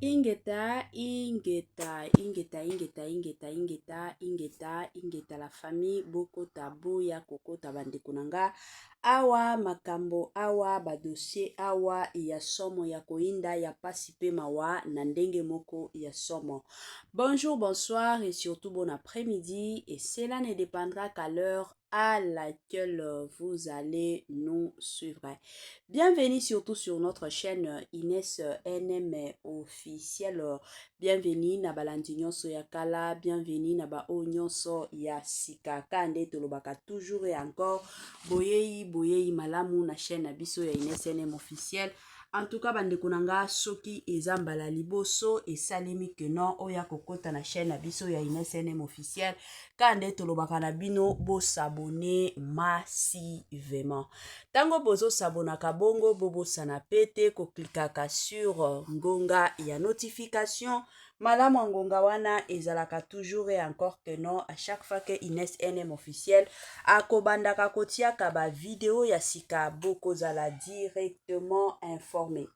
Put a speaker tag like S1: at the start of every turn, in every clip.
S1: Ingeta, ingeta, ingeta, ingeta, ingeta, ingeta, ingeta, ingeta la famille bokota boya kokota bandeko na nga Awa makambo awa ba dossier awa ya somo ya koyinda ya pasi pe mawa na ndenge moko ya somo. Bonjour, bonsoir et surtout bon après-midi et cela ne dépendra qu'à l'heure à laquelle vous allez nous suivre. Bienvenue surtout sur notre chaîne Inès NM officiel. Bienvenue na balandi nyonso ya kala, bienvenue na baoyo nyonso ya sika. Ka nde tolobaka toujours et encore, boyei boyei malamu na chaîne na biso ya INSNM officiel. En tout cas bandeko na nga soki eza mbala liboso esalemi que non oya kokota na chaîne na biso ya INSNM officiel. Ka nde tolobaka na bino bosabone massivement. Tango bozo sabonaka bongo bobosana pe te ko clickaka sur ngonga ya notification malamu ya ngonga wana ezalaka toujours et encore que non à chaque fois que Ines NM officiel akobandaka kotiaka ba video ya sika bokozala directement informe.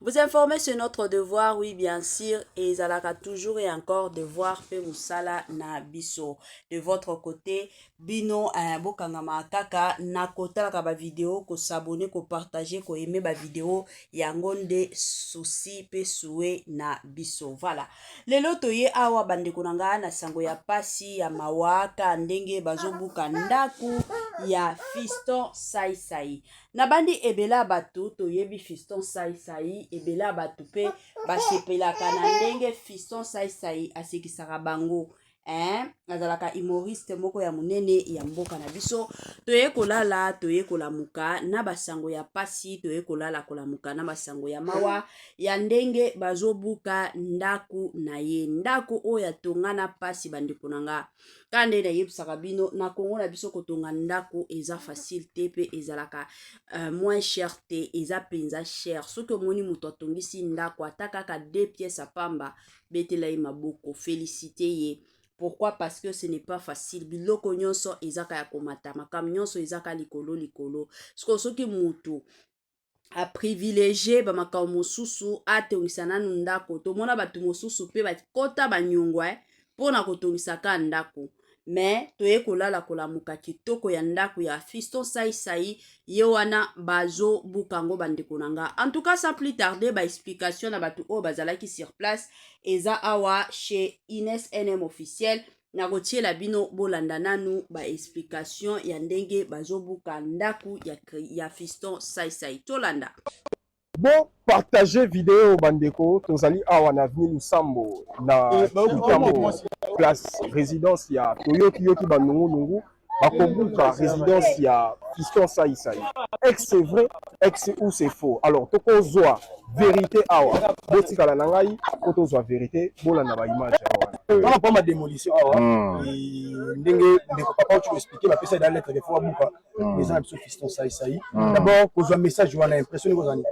S1: Vous informer sur notre devoir, oui bien sûr, et ezalaka toujours et encore devoir pe musala na biso. De votre côté, bino eh, bokangama kaka na kotalaka ba video, ko s'abonner, ko partager, ko aimer ba video yango nde souci pe souhait na biso. Voilà. Lelo toye awa bandeko na ngai na sango ya pasi ya mawaka ndenge bazobuka ndaku ya Fiston Sai Sai. nabandi ebele ya bato toyebi fiston saisai ebele ya bato mpe basepelaka na ndenge fiston saisai asekisaka bango eh, azalaka humoriste moko ya monene ya mboka na biso toye kolala toye kolamuka na basango ya pasi toye kolala kolamuka na basango ya mawa ya ndenge bazobuka ndako na ye ndako oyo atonga na pasi bandeko na nga ka nde nayebisaka bino na congo na biso kotonga ndako eza facile te mpe ezalaka uh, moins cher te eza mpenza cher soki omoni moto atongisi ndako ata kaka de pièce apamba betela ye maboko felicite ye pourquoi parce que ce n'est pas facile biloko nyonso ezaka ya komata makambo nyonso ezaka likolo likolo sikoyo soki moto aprivilege bamakambo mosusu atongisa nanu ndako tomona bato mosusu mpe bakota banyongwa eh, mpo na kotongisa ka ndako me toye kolala kolamuka kitoko ya ndako ya fiston saisai ye wana bazobuka yango bandeko na nga en tout cas sans plus tarder baexplication na bato oyo bazalaki sur place eza awa chez ines nm officiel nakotiela bino bolanda nanu ba explication ya ndenge bazobuka ndako ya, ya fiston saisai tolanda bo
S2: partage video bandeko tozali awa na avenue lusambo na kitambo place résidence ya toyoki yoki banungunungu bakobuka residence ya fiston saisai ex c'est vrai ex ou c'est faux alors tokozwa verité awa botikala na ngai po tozwa verité bolanda baimage awa wana pama demolition
S3: awa hmm. ndenge ndeko papa oyo expliqué bapesa eda lettre de fois buka hmm. eza na biso fiston saisai hmm. d'abord kozwa message wana impression ekozwa nini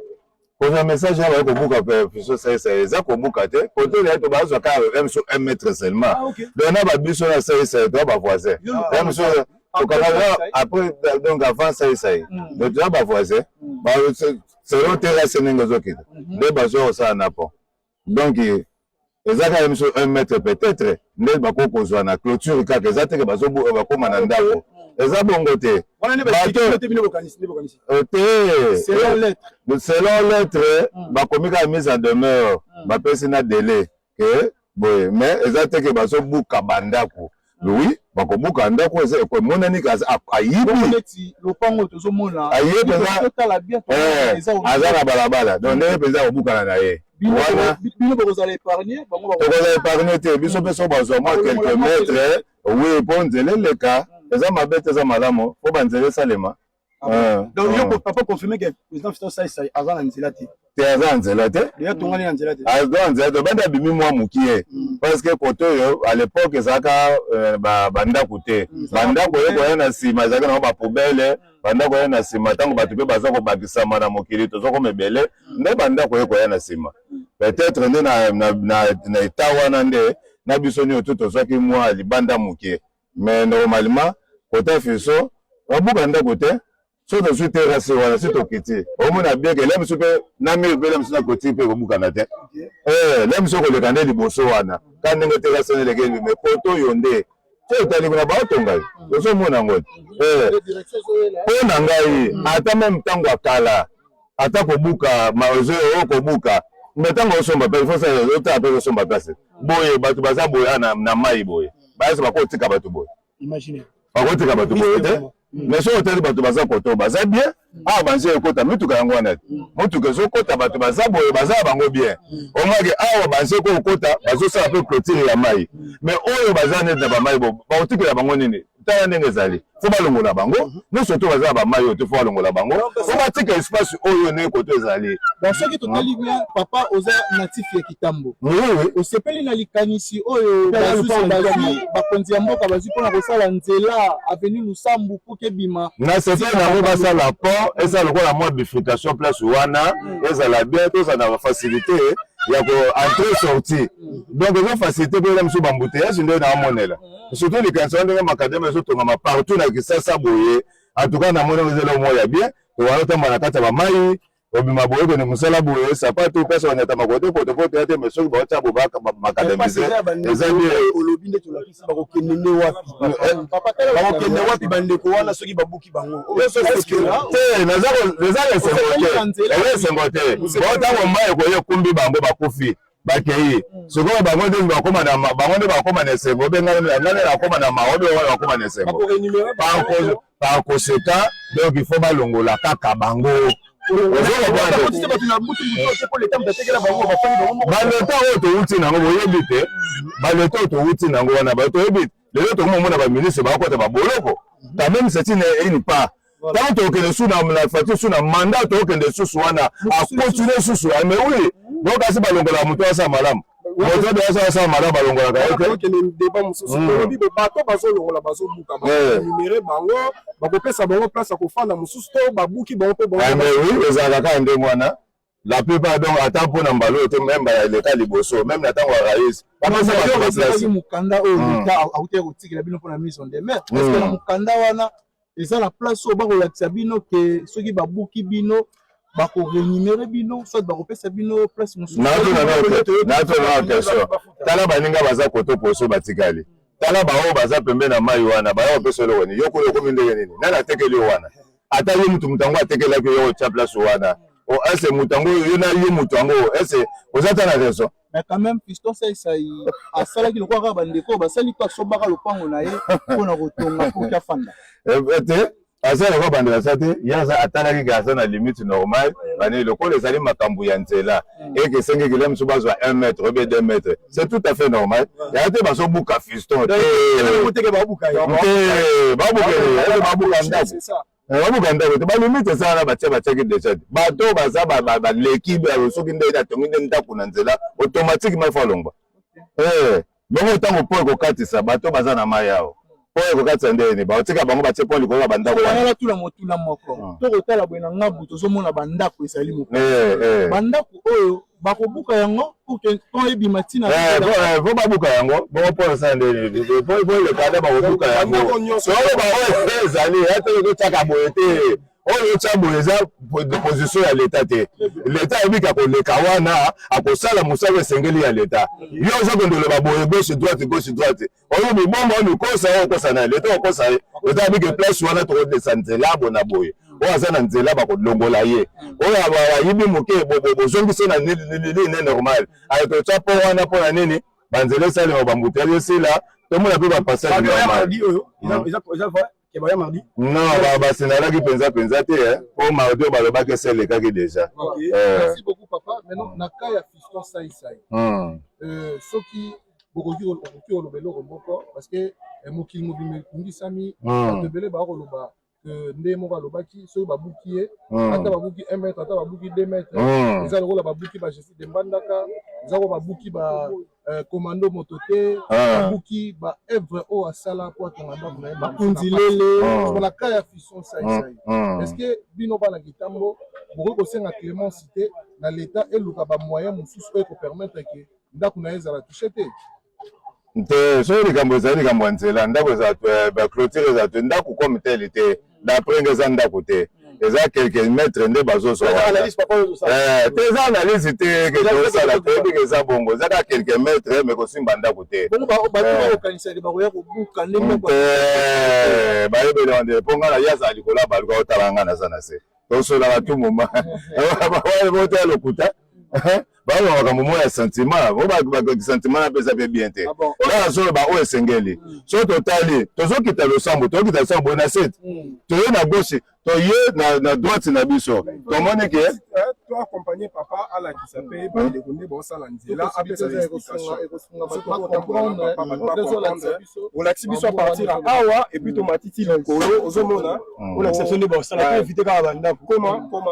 S3: kozwa message
S4: ya baye kobuka puissance saisa eza kobuka te kote ya to bazwa ka m so un mètre seulement ah, donc na ba biso na saisa to ba voisin m so tokanga après donc avant saisa hmm. donc na ba voisin hmm. ba selon terrasse ndenge ezokita hmm. nde bazwa kosala na pont donc eza kaka biso un mètre peut-être nde bakoki kozwa na clôture kaka eza teke bakoma na ndako eza bongo te selon lettre bakomi kaka mise en demeure bapesi na délai ke boye mais eza teke bazobuka bandako oui bakobuka ndako eza emonani ayibi lopango tozomona
S3: aye mpenza
S4: aza na balabala donc ndenge mpenza akobukana na ye wana
S3: tokozala epargne te
S4: biso mpe so bazwa mwa quelque mètre oui mpo nzela eleka eza mabe te eza malamu mpo banzela esalema Ah, donc ah. yo
S3: papa confirme que président Fiston Sai Sai aza na nzela te te aza na nzela te
S4: ya tongani na nzela te
S3: aza na nzela te banda
S4: abimi mwa mokie mm. parce que kote oyo à l'époque ezalaka euh, bandako te mm, bandako oyo koya na nsima ezalaki nango bapoubele bandako oyo na nsima ntango bato mpe baza kobakisama na mokili toza koma ebele mm. nde bandako oyo koya na nsima peut-être nde na etat wana nde na biso nioto tozwaki mwa libanda mokie mais normalement kota fiso babuka ndako te so tozwi terase wana si tokiti omona bien ke lemsu mpe na mire mpe lemsu na koti mpe kobukana te eh, lemsu okoleka nde liboso wana ka ndenge terase neleke libi mais poto oyo nde so etali kuna baotonga ye ozomona yango te mpo eh, na ngai ata meme ntango ya kala ata kobuka maozo oyo kobuka mais ntango osomba mpe ifosa otala mpe osomba place boye bato baza boye ah, na, na mai boye bayeso bakotika bato boye
S3: bakotika bato boye
S4: te mais soki otali bato baza koto baza bien awa ah, banzi ekota mituka yango wana te motuka mm. ezokota bato baza boye baza bango bien mm. omake awa banzi ekokota bazosala mpe clotire ya mai mais oyo baza neti na bamai bakotikela bango nini tala ndenge ezali fo balongola bango mhm. nyonso to baza ba mayo te fo balongola bango fo batika espace oyo ne koto ezali donc soki totali
S3: bien papa oza natif ya kitambo osepeli na likanisi oyo bazwi bakonzi ya mboka bazwi mpona kosala nzela aveni lusambu puki ebima nasepeli nango
S4: basala pont ezala lokola mwa bifrication place wana mm. ezala bien tozala na bafacilité ya ko entre sorti mm. donc eza facilité mpo eza mosusu bambuteillage nde naamonela mm. surtout likanisa wana ndenge makadama ezotongama partout na kisasa boye en tout cas namoni yango ezela moko ya bien tokala otamba na kati ya bamai obima boye kende mosala boye sapatu mpasi banyatama kote potopoto ya te me soki baotya bobaka makadamise eza olobi nde tolakisi
S3: bakokende nde wapi bakokende wapi bandeko wana soki babuki bango
S4: te naza esengo te esengo te baotango mai ekoye ekumbi bango bakufi bakei sikoyo bango nde bakoma na bango nde bakoma na esengo mpe ngai ngai nakoma na mawa mpe bango bakoma na esengo par conséquent donc il faut balongola kaka bango baleta oyo towuti nango boyebi te baleta oyo towuti nango wana toyebi te lelo tokomi omona ba ministre bakota ba boloko quand même c'est une une part ntango tokokende su na fati su na manda tokokende susu wana akontinue susu mais oui donc kasi balongola moto asala malamu moto de asala asala malamu balongolaka ye te okende deba mosusu
S2: olobi hmm. bato bazolongola bazobuka banumere eh. bango bakopesa bango place ya kofanda mosusu to babuki bango mpe bango eh, oui ezalaka kaka
S4: ndenge wana la plupart donc ata mpo na mbala oyo te meme mbala eleka liboso meme na ntango ya raïs bapesaki
S3: mokanda oyo hmm. leta autaki kotikela bino mpo na mise en demeure parce que na hmm. mokanda wana eza na place oyo bakolakisa bino ke soki babuki bino bakorenumere bino soit bakopesa bino place mosusunatuna
S4: question tala baninga baza koto poso batikali tala baoyo baza pembe na mai wana bayo kopesa eloko nini yo kuna okomi ndenge nini nani atekeli yo wana ata yo mutu mutu yango atekelaki yo otya place wana o oh, ese moto yango yo na yo moto yango ese oza ata na raison mais quand même piston
S3: saisai asalaki lokola kaka bandeko basali mpe asombaka lopango na ye mpo na kotonga mpo kya fanda eh, eh, te
S4: aza lokola bandeko asa te ye aza atalaki ke aza na limite normale bani lokola ezali makambo ya nzela et que esengi ekila mosusu bazwa 1 mètre obe 2 mètre c'est tout à fait normal yaya te bazobuka fiston te babuka ndako babuka ndako te balimite esala na batia batiaki deja te bato oyo baza baleki soki nde atongi nde ndako na nzela automatiquement ifo alongwa Bongo ntango mpo ekokatisa bato baza na mai awa mpo ekokatisa nde nini baotika bango batie mpo likolo ya bandako wana batula motuna
S3: moko ah. to kotala boye na ngabu tozomona bandako ezali moko eh, eh. bandako oyo bakobuka yango mpo ebima ntina eh, po babuka
S4: yango bongo mpo osala nde nini po elekada bakobuka yango soko baoyo ezali ete ekotyaka boye te oyo otya boye eza position ya leta te leta ayebika koleka wana akosala mosala esengeli ya leta yo oza kondoloba boye gauche droite gauche droite oyo mibomba oyo mikosa oyo okosa na ye leta okosa ye leta ayebike place wana tokodesa nzela bona boye oyo aza na nzela bakolongola ye oyo ayibi moke bozongisi na lili ne normal ayetotya mpo wana mpo na nini banzela esalema bambuteli esila tomona mpe bapassage Non, ba basenalaki penza penza te eh. po mardi balobaki esi elekaki deja. Okay. Euh. Merci beaucoup
S3: papa. Maintenant na cas ya fiston sai sai. Hmm. Euh, soki bokoki okoki oloba eloko moko parce que eh, mokili mobimba ekungisami hmm. bato ebele bakoloba euh, nde moko alobaki soki babuki ye hmm. ata babuki 1 mètre ata babuki 2 mètre eza lokola babuki ba jesi de mbandaka eza ko babuki ba Euh, commando moto te ah. abuki ba œuvre oyo asala mpo atonga ndako na ye bakonzi lele ah. mpona ka ya fison saisai ah. est ce que bino bana kitambo bokoki kosenga clémence te na leta eluka bamoyen mosusu oyo ekopermettre ke ndako na ye ezala touche te te
S4: soki likambo ezali likambo ya nzela ndako ezala baclotire ezala te ndako comme tele te d'après nga eza ndako te eza quelques mètres nde bazozwa eh, te eza analyse te ketosala toyebi ke eza bongo eza kaka quelques mètres me kosimba ndako te bayebele wande mpo ngai na ye azala likolo ya baluka otala ngai naza na se tosolaka tu moma boteya lokuta baoyo makambo moko ya sentiment oyo sentiment napesa mpe bien te ngai nazoloba oyo esengeli mm. so totali tozokita losambo tozokita losambo boye na sete mm. toye na gauche toye na droite na biso mm. tomoni ke toaccompagne
S2: papa alakisa mpe bandeko nde baosala nzela apesa olakisi biso apartir ya awa epuis tomatiti likolo ozomona olakisa biso nde baosala evite kaka bandako koma koma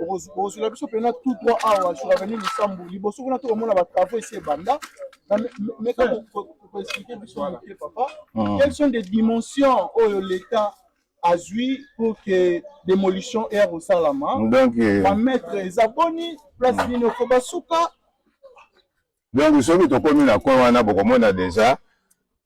S3: bokozula biso mpena tout droit awa sur avenue lisambo liboso kuna tokomona batravaux esi ebanda meka koexplike biso moke papa hmm. quelles sont des dimensions oyo l'état azwi pour que démolition ere kosalama bametre eza boni place hmm. nini okoba suka
S4: donc soki tokomi na coin wana bokomona deja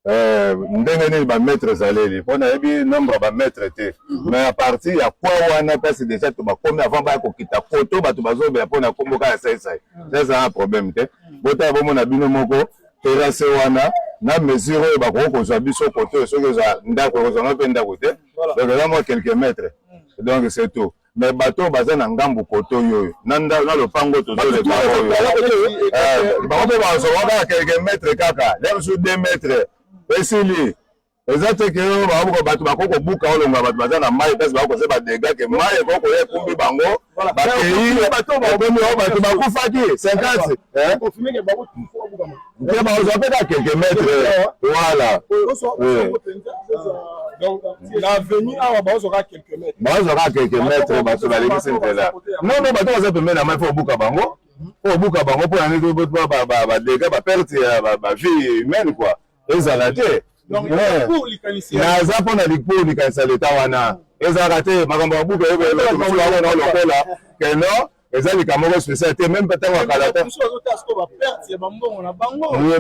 S4: Euh, ndenge nini bamaitre ezaleli mpo nayebi nombre ya bamaitre te mhm. mais a partir ya kwa wana place déjà to bakomi avant baya kokita koto bato bazobela mpo na nkombo kaka saisai mhm. eza na problème te mhm. botala bomona bino moko terase wana na mesure oyo bakoki kozwa biso koto soki ozwa ndako ekozwanga mpe ndako te donc eza mwa quelques mètres donc c'est tout mais bato oyo baza na ngambo koto yoyo na lopango tozolekaoyo bango mpe bazwa kaka quelque mètre kaka ya mosusu deux mètre esili eza te ke oyo babuka bato bakoki kobuka olonga bato baza na mai mpasi bakoki koza badega ke mai ekoki koya ekumbi bango bakei ekomi o bato bakufaki 50 Nkema ozwa mpe kaka quelques mètres voilà l'avenue awa baozwa kaka quelques
S2: mètres baozwa kaka quelques mètres
S4: bato balekisi nzela non non bato baza pembeni na mai mpo obuka bango mpo obuka bango mpo na nini badega baperte ya bavie humaine kua ezala te naza mpo na likpo likanisa leta wana ezalaka te makambo ya buka ebelokola keno eza lika moko spécial te meme ntango ya kala te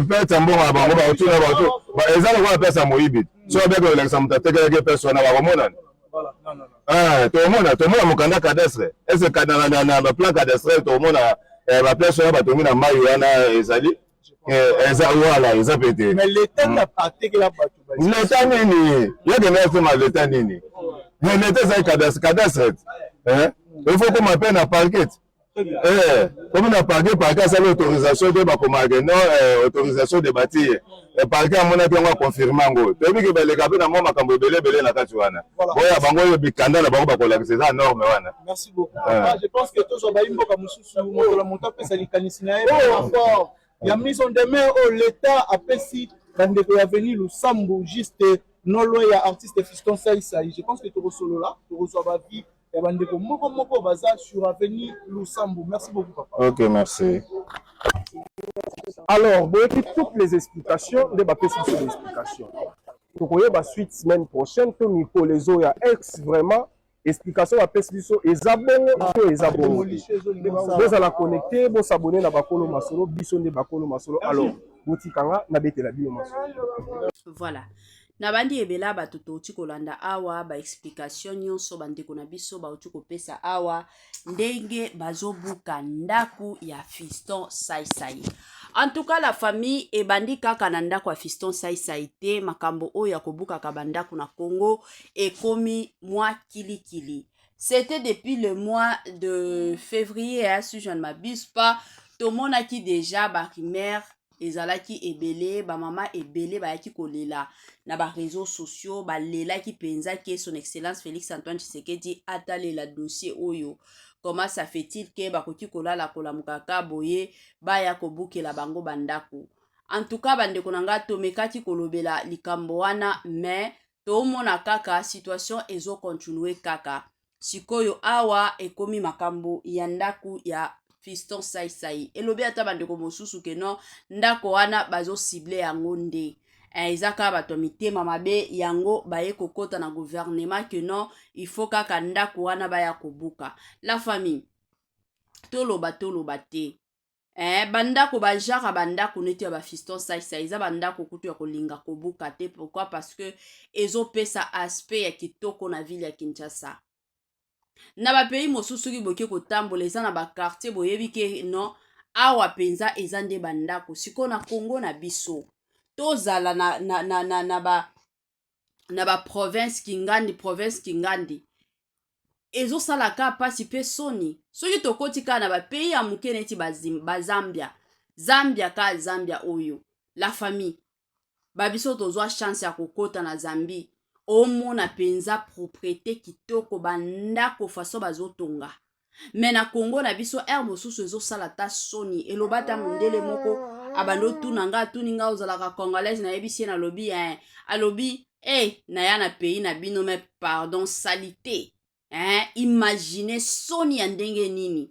S4: perte ya mbongo na bango bakotuna bato eza lokola perte ya moyibi so abeka kolakisa moto atekelaki perte wana bakomonana ah, tomona tomona mokanda cadastre ese na baplan cadastre tomona eh, baplan wana batongi na mai wana ezali Eh, eza wala eza pe te leta nini yakende asema leta nini mais leta ezali cadastre cadastre eh? il faut koma pe na parquet eh, komi na parquet parquet asali autorisation te bakomake no autorisation de bâtir parquet amonaki yango aconfirme yango toyebi ke baleka mpe na mwa makambo ebele ebele na kati wana oyo bango oyo bikanda na bango bakolakisa eza norme wana
S3: sur mokolo moto apesa likanisi na ye rapport ya mise en demeure oyo leta apesi bandeko ya veni lusambo juste non loin ya artiste fiston saisai je pense que tokosolola tokozwa bavi ya bandeko moko moko baza sur aveni lusambo merci beaucoup papa ok merci
S2: alors boyebi toutes les explications nde bapesi biso baexplication tokoyeba suite semaine prochaine to mikolo ezoya ex vraiment explication bapesi biso eza bongo ah, to eza bongo bozala connecte bosabone na bakolo masolo biso nde bakolo masolo alors botika nga nabetela bino masolo voilà
S1: nabandi ebela bato touti kolanda awa baexplication nyonso bandeko na biso bauti kopesa awa ah, ndenge bazobuka ndako ya fiston saisai en tout cas la famille ebandi kaka na ndako ya fiston saisai te makambo oyo ya kobukaka bandako na congo ekomi mwa kilikili c'était depuis le mois de février hein, si je ne m'abuse pas tomonaki déjà barumeur ezalaki ebele bamama ebele bayaki kolela na bareseau sociaux balelaki mpenza ke son excellence félix antoine tshisekedi atalela dossier oyo comment ça fait-il ke bakoki kolala kolamuka ka boye baya kobukela bango bandako en tout cas bandeko na ngai tomekaki kolobela likambo wana mais toomona kaka situation ezocontinue kaka sikoyo awa ekomi makambo ya ndako ya fiston saisai elobi ata bandeko mosusu ke non ndako wana bazosible yango nde eh, eza kaka bato ya mitema mabe yango baye kokota na guvernema ke non il faut kaka ndako wana baya kobuka la famille toloba toloba te eh, bandako bajaka bandako neti ya bafiston saisa eza bandako kutu ya kolinga kobuka te pourkui parce que ezopesa aspect ya kitoko na ville ya kinshasa na bapays mosusu soki boke kotambola eza na bakartier boyebi ke non awa mpenza eza nde bandako sikoyo na kongo na biso tozala na, na, na, na, na ba na ba province kingandi province kingandi ezosala ka mpasi mpe soni soki tokoti kaka na bapays ya moke neti bazambia zambia ka zambia oyo la famille babiso tozwa chance ya kokota na zambie omona mpenza propriete kitoko bandako faso bazotonga me na congo na biso ere mosusu ezosala ta soni eloba ata mondele moko abandi otuna nga atuni nga ozalaka congolaise nayebisi ye nalobi eh, alobi e eh, hey, naya na pays na bino me pardon salite eh, imagine soni ya ndenge nini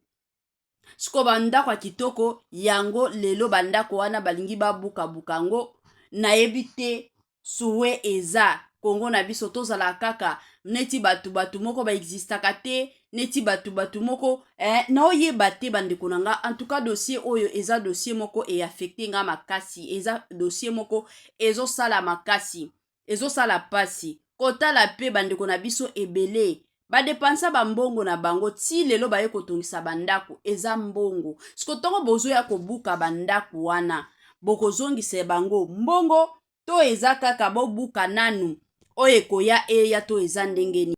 S1: siko bandako ya kitoko yango lelo bandako wana balingi babukabuka yango nayebi te Souhait eza Congo na biso tozala kaka neti batu batu moko ba existaka te neti batu batu moko eh, naoyeba te bandeko na nga en tout cas dossier oyo eza dossier moko e affecte nga makasi eza dossier moko ezosala makasi ezosala pasi kotala pe bandeko na biso ebele ba depensa ba mbongo na bango ti lelo baye kotongisa ba ndako eza mbongo siko tongo bozoya kobuka ba ndako wana bokozongisa bango mbongo to eza kaka bobuka nanu oyo ekoya eya to eza ndenge nini